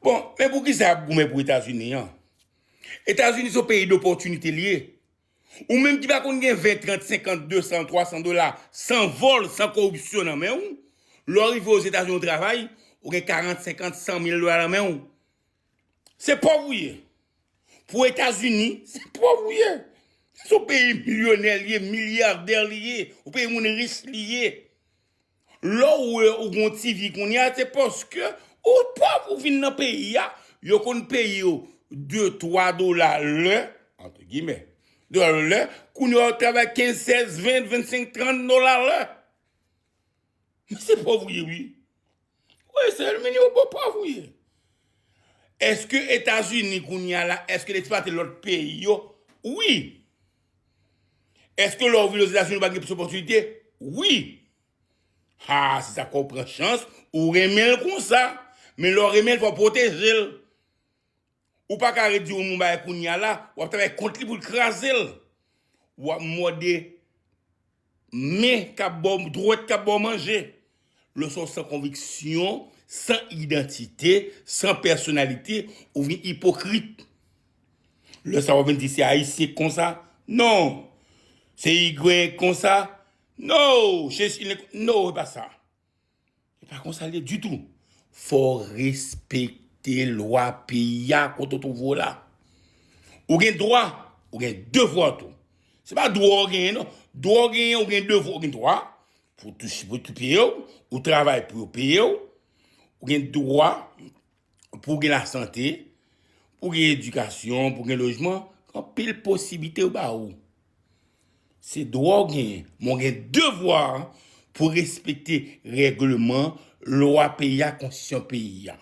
Bon, men poukisa yap goumen pou etazini an? Etazini son peyi dopòtinite li ye. Ou menm ki pa konn gen 20, 30, 50, 200, 300 dola san vòl, san koripsyon nan men ou, lè w rive ozetazini ou travay, ou gen 40, 50, 100 mil dola nan men ou. Se pòv ou ye. Pou etazini, se pòv ou ye. Son peyi milyonè li ye, milyardè li ye. Ou peyi moun rich li ye. Lè w wè ou gon ti vi kounya se paske ou pòv ou vin nan peyi a, yo konn peye w de twa dola lè, antre gimè, dola lè, kounya wap travay kenz, sèz, ven, vensenk, trant dola lè. Men se pòv ou ye wi. Ou eseye l men yo bon pòv ou ye. Eske Etazini kounya la, eske l esplwate lòt peyi yo? Wi. Eske lè ou vin Ozetazini ou pa gen plis opòtinite? Wi! Haa se sa k fè ou pran chans ou renmen l konsa. Men lè w renmen l fò w pwoteje l. Ou pa ka ret di yon moun bagay kounya la, w ap travay kont li pou l kraze l. W ap mòde. Men kap baw dwèt kap baw manje. Leson san konviksyon, san idantite, san pèsonalite, ou vin ipokrit. Lè sa wap vin di se ayisyen ki konsa, non! Se igwen ki konsa, no! Se chilyen ki konsa, no! Se pa sa. E pa konsa l ye ditou. Fò w respekte lwa peyi a kote w twouve w la. Ou gen dwa, ou gen devwa tou. Se pa dwa w genyen non. Dwa w genyen, ou gen devwa. Ou gen dwa pou w touche pou yo peye w. Ou travay pou yo peye w. Ou gen dwa. pou gen lasante, pou gen edikasyon, pou gen lojman, anpil posiblite yo ba ou. Se dwa ou genyen, men ou gen devwa pou respekte regleman, lwa peyi a, konstitisyon peyi a.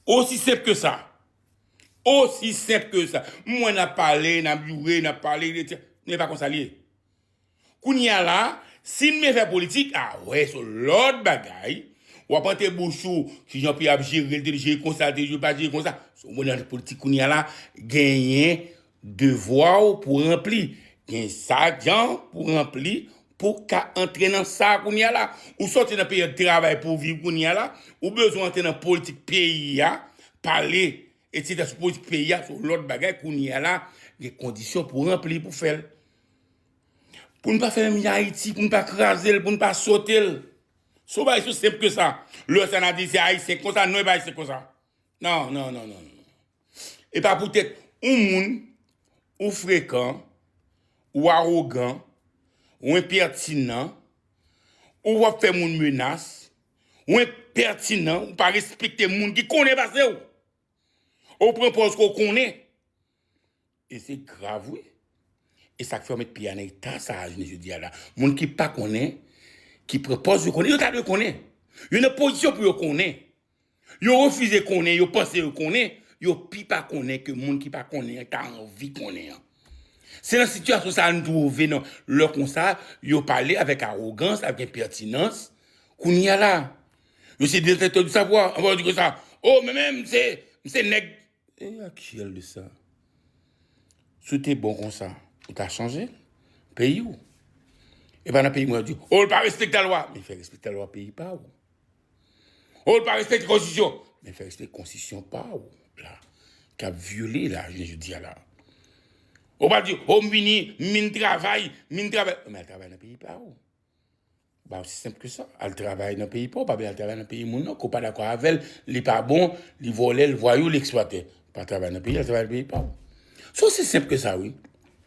Osi senp ke sa. Osi senp ke sa. M wè n ap pale, n ap joure, n ap pale, men e pa konsa li ye. Kounye a la, si n men fè politik, a wè s on lòt bagay. W ap ante bouch ou, ki jan pi a ap jere l, te jere konsa, l te jere pa jere konsa. Si w nan politik kounye a la, genyen devwa w pou w ranpli. Gen sa jan pou w ranpli pou w ka antre nan sa kounye a la. Ou soti nan peryòd travay pou w viv kounye a la, ou bezwen antre nan politik peyi a, pale Etidans pou politik peyi a se yon lòt bagay kounye a la gen kondisyon pou ranpli pou fè l. Pou n pa fè menm jan Ayiti, pou n pa kraze l, pou n pa sote l. Se yon bagay sou senp ke sa. Lè sa n ap di se Ayisyen ki konsa, non e pa Ayisyen ki konsa. Non, non, non, non, non. E pa poutèt yon moun ou frekan, ou awogan, ou enpètinan, ou wap fè moun menas. Ou enpètinan, ou pa respekte moun ki konnen pase w. Ou pran pòz ke w konnen. E se grav wi. E sa k fè yo met peyi a nan eta sa a jounen jodi a la. Moun ki pa konnen, ki pran pòz yo konnen. Yo ta dwe konnen. Yo nan pozisyon pou yo konnen. Yo refize konnen, yo panse yo konnen. Yo pi pa konnen ke moun ki pa konnen an ta anvi konnen an. Se nan sitiyasyon sa a nou twouve nou lè konsa yo pale avèk awogans, avèk enpètinans, kounye a la yo se detèktè di savwa, anvan yo di konsa, o mwen menm m se, m se nèg, e a ki al di sa? Si w te bon konsa, ou ta chanje peyi w, e pa nan peyi mwen yo di, o l pa respekte lalwa, men fè respekte lalwa peyi pa w. Oh l pa respekte konstitisyon. Men fè respekte konstitisyon pa w la k ap vyole la jounen jodi a la. Ou pa di oh m vini, m vin travay, m vin travay. Men al travay nan peyi pa w. Ba osi senp ke sa. Al travay nan peyi pa w, pa vle al travay nan peyi moun nan ke w pa dakò avè l, li pa bon, li vòlè, l vwayou, l eksplwatè. Pa travay nan peyi l, al travay nan peyi pa w. Se osi senp ke sa wi.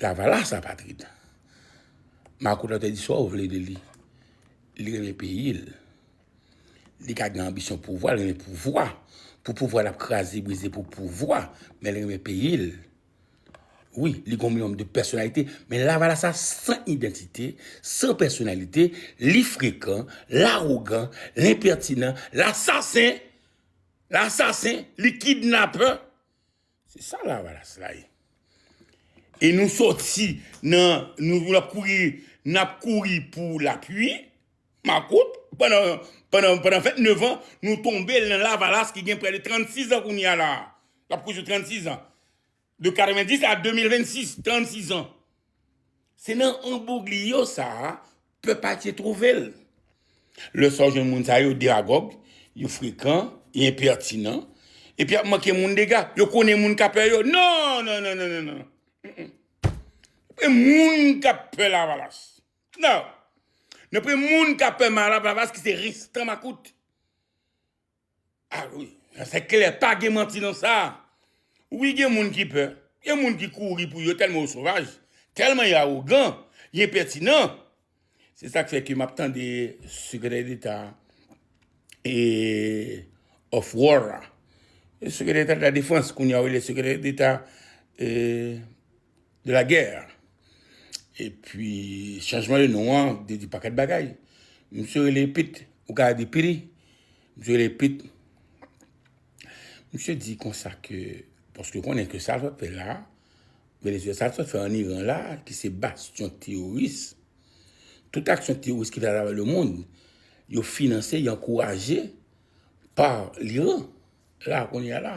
Lavalas apatrid. Marco la te di sa ou vle de li. Li renmen peyi l. Li ka gen anbisyon pouvwa, li renmen pouvwa. Pou pouvwa l ap kraze brize pou pouvwa. Men li renmen peyi l. Wi, li gen yon minimòm de pèsonalite. Men lavalas la san idantite, san pèsonalite, li frekan, l awogan, l enpètinan, l asasen, l asasen, li kidnapè. Se sa lavalas la ye. E nou soti nan nou vin ap kouri n ap kouri pou lapui makout pandan fèt nevan nou tonbe nan lavalas ki gen prè de 36 an kounye a la a. L ap kouri sou 36 an. De 90 a 2026, 36 an. Se nan embougliyo sa a pèp ayisyen twouve l. Lè sa w jwenn moun sa yo demagòg, yo frekan, yo enpètinan, epi y ap manke moun dega. Yo konnen moun k ap pè yo. Non! Non! Non! Non! Non! Gen moun k ap pè Lavalas. Non! Gen moun k ap pè Lavalas ki se restan makout. Ah wi sa se klè pa gen manti nan sa wi gen moun ki pè gen moun ki kouri pou yo tèlman yo sovaj tèlman yo awogan yo enpètinan se sak fè ke map tande sekretè deta e of war la sekretè deta defans kounya yo rele sekretè deta e de la guerre epi chanjman de non an vle di pakèt bagay misye rele pit ou ka di piri misye rele pit misye di konsa ke paske ou konnen ke sa l sot fè la Venezyela sa l sot fè an Iran la ki se bastyon teworis tout aksyon teworis ki fèt atravè le mond yo finanse yo ankouraje pa l Iran la kounye a la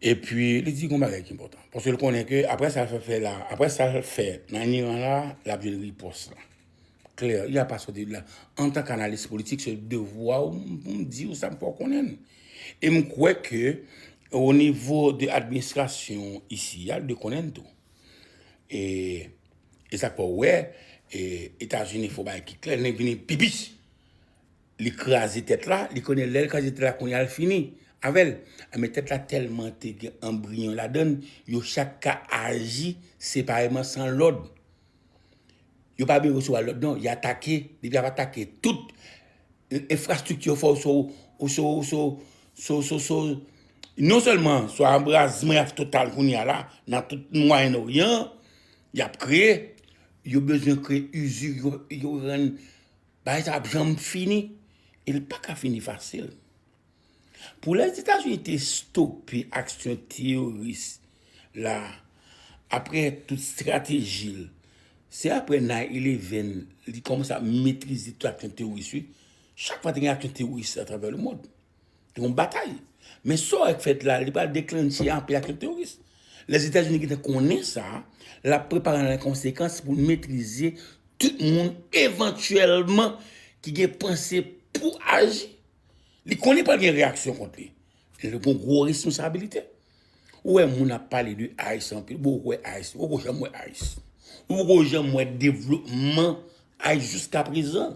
Epi li di yon bagay ki enpòtan. Paske l konnen ke apre sa l fè la, apre sa l fè an Iran la, l ap jwenn ripòs lan. Klè, li ap pa sòti de la. Antan k analis politik, se devwa w pou m di w sa m fè w konnen. E m kwè ke o nivo de administrasyon isi a, yo dwe konnen l tou. E e sa k fè w wè, e Etazini fè yon bagay ki klè, li vini pi pi. Li kraze tèt la, li konnen lèl kraze tèt la kounya l fini avèl men tèt la tèlman te gen anbriyon ladann yo chak ka aji separeman san lòd yo pa bezwen resevwa lòd non y atake depi yap atake tout enfrastrikti yo fè w sou ou sou ou sou sou sou sou non sèlman sou anbrazman yap fè total kounya la nan tout mwayen oryan yap kreye yo bezwen kreye izi yo rann Bagay sa ap janm fini e li pa ka fini fasil. Pou Lèzetazini te stope aksyon teyoris la apre tout estrateji l, se apre 9/11 li kòmanse ap metrize tout aksyon teyoris li. Chak fwa te gen aksyon teyoris atravè lemond. Gen yon batay. Men sa wè k fèt la, li pral deklennche anpe ak yon teworis. Lèzetazini gentan konnen sa, l ap prepare l an konsekans pou l metrize tout moun evantyèlman ki gen panse pou aji. Li konnen pral gen reyaksyon kont li. Li gen yon gwo responsabilite. Ou wè moun ap pale de ice anpil, bon ou kwè ice, ou poko janm wè ice. Ou poko janm wè devlopman ice jiska prezan.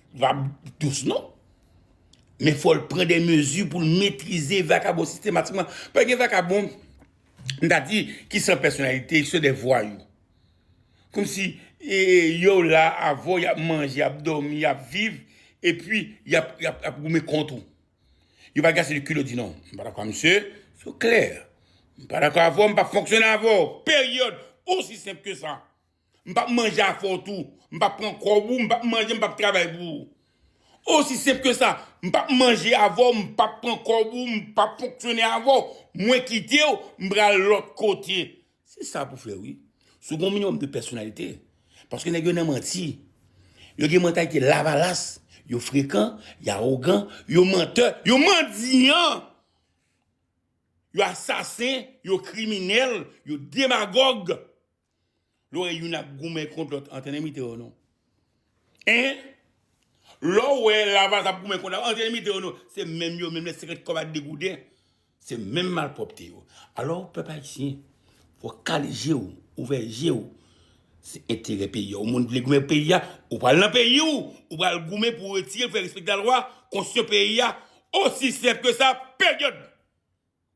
va dous non men fòl pran de mezi pou l metrize vakabon sistematikman paske gen vakabon m ta di ki san pèsonalite se de vwayou kòmsi yo la avè w y ap manje y ap dòmi y ap viv epi y ap goumen kont ou yo pa gen ase de kilot di non m pa dakò ak misye se klè m pa dakò avè w m p ap fonksyone avè w peryòd osi senp ke sa. M pap manje avè w tou. M pap pran kòb ou, m pap manje, m pap travay pou ou. Osi senp ke sa. M pap manje avè w, m pap pran kòb ou, m pap fonksyone avè w. Mwen kite w, m pral lòt kote. Se sa pou fè wi. Si w gen yon minimòm de pèsonalite. Paske nèg yo nan manti. Yo gen mantalite lavalas. Yo frekan, yo awogan, yo mantè, yo mandiyan. Yo asasen, yo kriminèl, yo demagòg. Lorè youn ap goumen kont lòt antre nan mite yo non hein lò wè lavalas ap goumen kont lavalas antre nan mite yo non se menm yo menm lè se ret kòb ak degouden se menm malpwòpte yo alò pèp ayisyen fò kale jew ouvè jew se enterè peyi a ou moun vle goumen pou peyi a ou pral nan peyi ou ou pral goumen pou retirel fè respekte lalwa konstitisyon peyi a osi senp ke sa period.